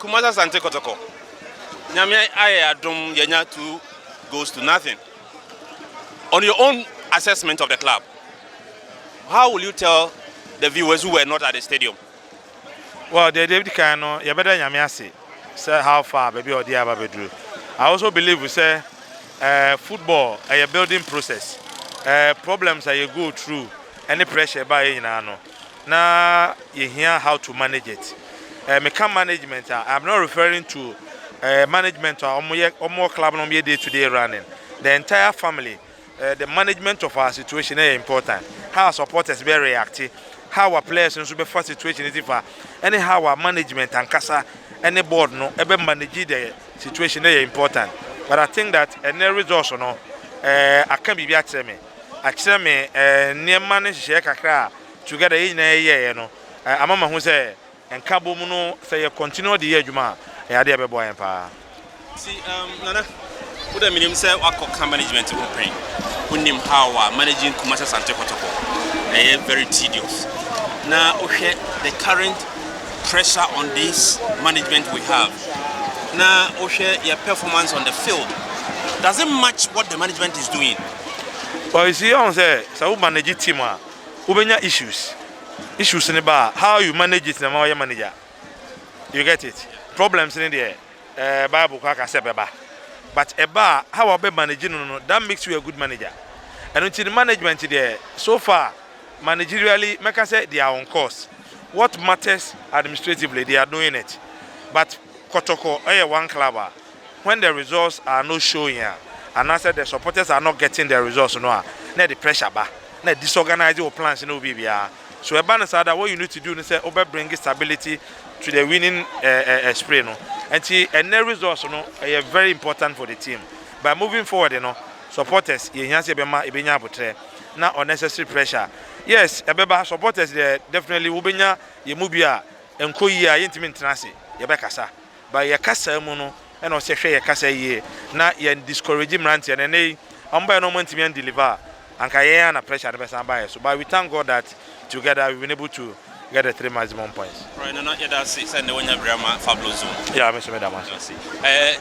Kumasi Asante Kɔtɔkɔ, Nyame ayɛ adom yɛanya two goals to nothing. On your own assessment of the club, how will you tell the viewers who were not at the stadium? Well, deɛ deɛ ɛdi kan no, yɛbɛda Nyame ase sɛ how far baabi a ɔde yɛn aba abɛduru. I also believe sɛ eh, football ɛyɛ building process. Eh, problems a yɛ go through ɛne pressure ɛbaa yɛn nyinaa no, na yɛhia how to manage it. Eh, meka management a, I'm not referring to eh, management a wɔyɛ wɔwɔ club na wɔyɛ day to day running. The entire family, eh, the management of our situation is important. How our supporters be react, how our players nso bɛfa situation no fa, ɛne how our management ankasa ɛne board no ɛbɛ manage the situation is important. But I think that ɛnɛ results no, eh, aka biribi akyerɛ me. akyerɛ me nneɛma ne nhyehyɛeɛ kakra a together yɛn nyinaa yɛyɛeɛ no ama mahu sɛ nkabom no sɛ yɛ continue de yɛ adwuma a ɛyɛ adeɛ a ɛbɛboa yɛn paa. Nti um, Nana, wo dɛ menim sɛ wakɔ ka management ho pɛn. Wonim how a managing Kumasi Asante Kotoko ɛyɛ very tedious. Na wohwɛ the current pressure on this management we have. Na wohwɛ yɛ performance on the field. Does it match what the management is doing? Ɔyisi ɔhu sɛ sɛ wo manage team a wobɛnya issues, issues no ba a how you manage it na ma wayɛ manager you get it problems no deɛ eh, bible kɔ aka sɛ bɛba but ɛba a how a wobɛ manage no no that makes you a good manager ɛno nti no management deɛ so far managerially mɛka sɛ they are on course what matters administratively they are doing it but kɔtɔkɔ ɛyɛ one club a when the results are not showing a, anaasɛ the supporters are not getting the results no a, na ɛde pressure ba, na ɛ disorganise wo plans ne wo biribiara. So ɛba no saa da, what you need to do ne sɛ wobɛ bring stability to the winning eh, eh, eh, spray no. Nti ɛnɛ results no ɛyɛ very important for the team. By moving forward no, supporters yɛhia sɛ yɛbɛma ɛbɛnya abotrɛ na unnecessary pressure. Yes, ɛbɛba supporters deɛ definitely wobɛnya yɛn mu bi a ɛnkɔ yie a yɛntumi ntena ase, yɛbɛkasa. But yɛ kasaa mu no na ɔsɛ hwɛ yɛ kasa yie na yɛn discourage mmeranteɛ no ɛnɛ yi ɔmo baɛ na ɔmo antumi an deliver a anka yɛn ara na pressure no bɛsan aba yɛ so but we thank God that together we been able to get the three maximum points. Alright Nana yɛda ase sɛ nnɛ wanya bere ama Fabulous Zone. Yeah me nso meda mo ase. Yɛda wo ase. Eh.